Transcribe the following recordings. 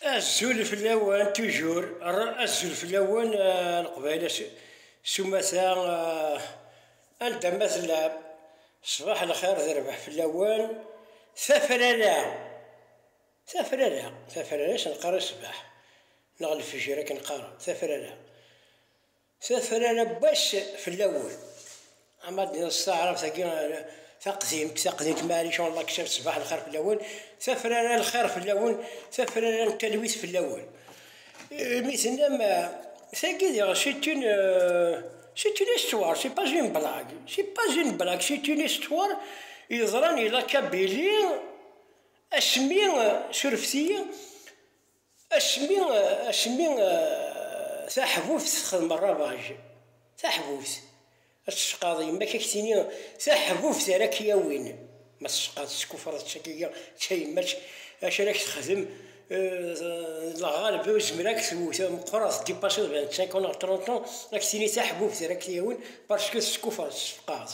Azul fell-awen tujur, azul fell-awen eh, leqbayel sumata eh, anda ma tellam, ṣṣbaḥ lxir d rrbeḥ fell-awen, tafrara, tafrara, tafrara s nqar ṣṣbaḥ, neɣ lefjer akken qqaren, tafrara. Tafrara n wass fell-awen. Ama ad d-nneɣ s taɛrabt agi taqdimt, taqdimt Marie Jean Laksel, ṣbaḥ lxir fell-awen, tafrara n lxir fell-awen, tafrara n talwit fell-awen. Mi tennam, tagi diɣ c'est une, c'est une histoire, c'est pas une blague, c'est pas une blague, c'est une histoire yeḍran ilaq-a belli asmi surfet-iyi, Asmi asmi taḥbubt texdem rrabaj, taḥbubt, ad tecqaḍ yemma-k ad k-tini taḥbubt ara k-yawin, ma tecqaḍ teskufreḍ ttagi d tayemmat acu ara k-texdem, lɣalba uzmer ad k-twet meqqreḍ dipasseḍ vingt-cinq ans neɣ trente ans ad k-tini taḥbubt ara k-yawin parce que teskufreḍ, tessefqaɛeḍ.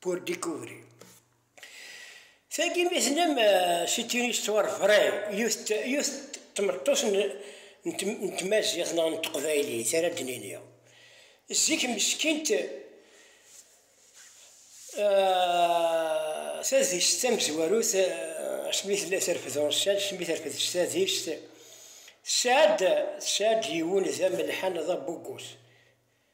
pour découvrir. Tagi mi tennam c'est une histoire vraie yiwet yiwet tmeṭṭut n tmaziɣt neɣ n teqbaylit ara d-nini zik meskint tadist tamezwarut asmi tella terfed ṛussal asmi terfed s tadist tesɛa-d tesɛa-d yiwen d amelḥan d abugus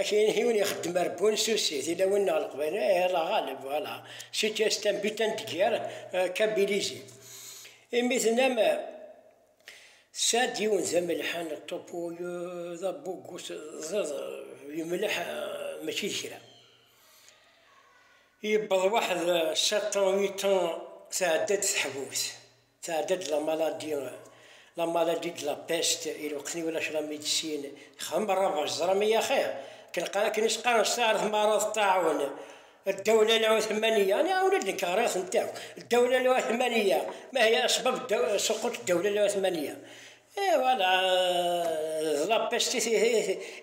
Akken yiwen ixeddem ar Bunsusi, tilawin neɣ leqbayel, eh, la ɣaleb, voilà, si tu es un butin de guerre, euh, kabilizi. Imi tenam, tesɛa-d yiwen d amelḥan, ṭupu, d abugu, teẓẓiḍ, yemleḥ, mačči d kra. Yewweḍ waḥed sept ans, huit ans, tɛedda-d teḥbubt. Tɛedda-d la maladie, la maladie de la peste, i lweqt i ulac la médecine, xdem rrabaj, teẓram ay axir, akken qan, akken i s-qqaren s taɛrabt marad ṭṭaɛun, ddawla la uthmaniya, aniɣer ula d nekk ɣriɣ-tent akk, ddawla la uthmaniya, ma hiya asbab suqut ddawla la uthmaniya, et voilà, d la peste i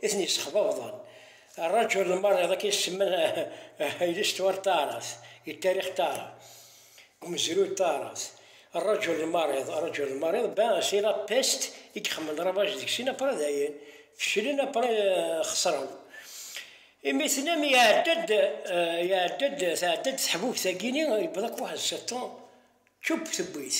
i ten-yessexbabḍen, rrajul lmarid akken i s-semman i l'histoire taɛrabt, i ttarix taɛrabt. Umezruy Taɛrabt, Rrajul lmariḍ, Rrajul lmariḍ, ben c'est la peste i ixemmen ravage deg-sen après dayen feclen après xesren. Imi tenam iɛedda-d iɛedda-d tɛedda-d teḥbubt-agi-ni yewweḍ-ak waḥed sept ans tchupp tewwi-t.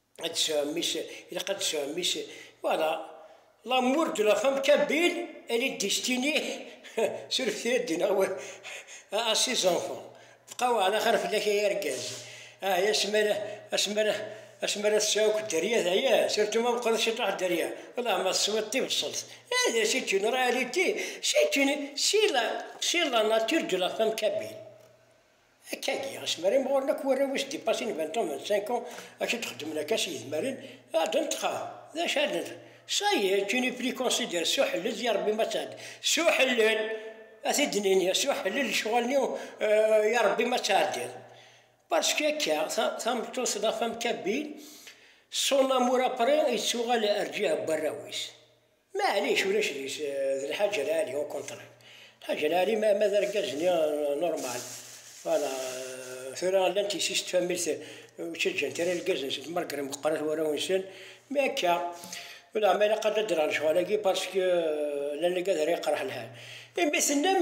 ad tesɛum is, ilaq ad tesɛum is, voilà, l'amour de la femme kabyle elle est destinée suref tira ad d-iniɣ wa à ses enfants, bqa weɛla xir fell-ak ay argaz, ah ya asmi ara, asmi ara, asmi ara tesɛu akk dderya teɛya, surtout ma meqqret ciṭuḥ dderya, welleh ma teswiḍ tibṣelt, eh d c'est une réalité, c'est une, c'est la, c'est la nature de la femme kabyle. Akkagi, asmi ara imɣuren akk warraw-is dipassin vingt ans, vingt-cinq ans, akken d-xeddmen akka s yedmaren, ɛeddan ṭṭqam. D acu ara neg? Ça y est, tu n'es plus considéré, s uḥellel, d yarebbi ma tɛedda, s uḥellel! Ad t-id-nini, s uḥellel, lecɣal-nni, yarebbi ma tɛeddiḍ. Parce que akka, tameṭṭut, la femme kabyle, son amour après, yettuɣal rǧiha n warraw-is. Maɛlic ulac deg-s d Lḥaǧ Lɛali au contraire. Lḥaǧ Lɛali ma ma d argaz-nni normal voilà tura llant yessi-s n tfamilt ur ttaǧǧant ara irgazen-nsen malgré meqqeṛit warraw-nsen mais akka ulaɣma ilaq ad d-addreɣ lecɣal-agi parce que llan lgaz ara yeqreḥ lḥal. Imi tennam.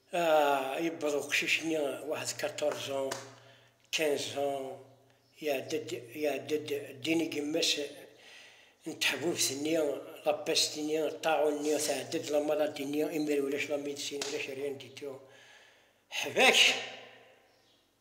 Ah, yewweḍ uqcic-nni waḥed quatorze ans, quinze ans, iɛedda-d, iɛedda-d ddin i yemma-s n teḥbubt-nni, la peste-nni, ṭṭaɛun-nni, tɛedda-d la maladie-nni, imir ulac la médecine, ulac rien du tout. Ḥbek!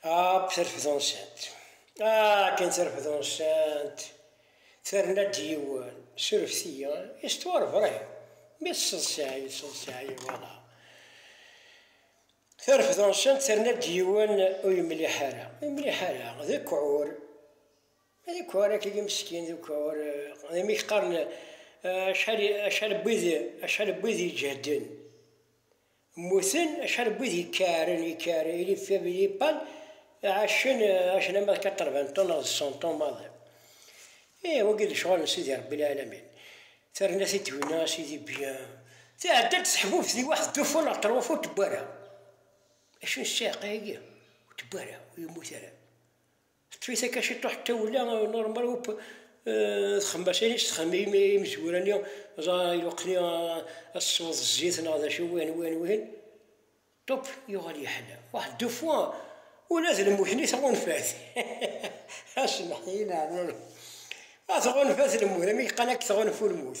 App tarfedunsant. Akken tarfedunsant terna-d yiwen s urefti-a, istuɣer Bṛahim, mi tesseḍsay, yesseḍsay, voilà. Tarfedunsant terna-d yiwen ur yemliḥ ara, ur yemliḥ ara, d ukɛur, d ukɛur akk-agi meskin, d ukɛur, d amek qqaren acḥal, acḥal n wid, acḥal n wid iǧehden. Mmuten acḥal n wid yekkaɛren, yekkaɛren, il y avait des pannes, ɛacen, ɛacen ama d quatre-vingts ans neɣ d cent ans maḍi. Ih, wagi d lecɣal n Sidi Rebbi Lɛalamin. Terna tiddewna a Sidi bien. Tɛedda-d teḥbubt di waḥed dufu neɣ ṭruf ur tewwi ara. Acu n ssiɛqa-agi? Ur tewwi ara, ur yemmut ara. Teṭṭef-it akka ciṭuḥ tawla normal up txemmasin i s-txemmim i imezwura-nni ẓa iluqen-i ad tesweḍ zzit neɣ d acu wihin wihin wihin top yuɣal yeḥla waḥ deux fois ula d lmut-nni tɣunfa-t asemḥ i leɛmur a tɣunfa-t lmut amek qan ad k-tɣunfu lmut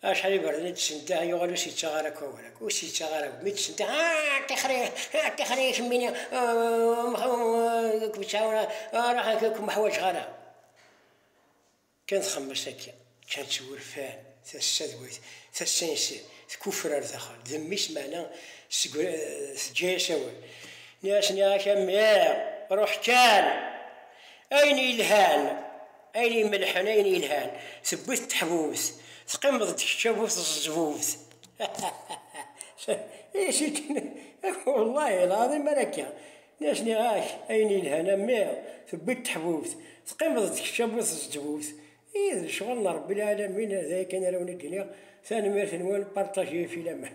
Acḥal n yiberdan i d-tesnedeh, yuɣal ur s-yettaɣ ara akk awal akk, ur s-yettaɣ ara akk, mi d-tesnedeh, ah, ṭixri, ah, ṭixri, kemmini, ur kem-ttɛawan ara, ruḥ, ur kem-ḥwaǧeɣ ara. Kan txemmes akka, kan ttwurfan, tassa d wayt, tassa yes, tkuffer ar daxel, d mmi-s meɛna teǧǧa-yas awal. Nniɣ-as, nniɣ-ak a mmi, ruḥ kan, ayen yelhan. Ayen imelḥen ayen yelhan tewwi-t teḥbubt, teqqimeḍ-d kečč a bu teẓzbubt. Wallahi lɛaḍim ara akka. Mi as-nniɣ-ak ayen yelhan a mmi tewwi-t teḥbubt, teqqimeḍ-d kečč a bu teẓzbubt. Ih, d lecɣal n Ṛebbi lɛalamin, d aya kan ara wen-id-iniɣ. Tanemmirt-nwen, partager, filaman.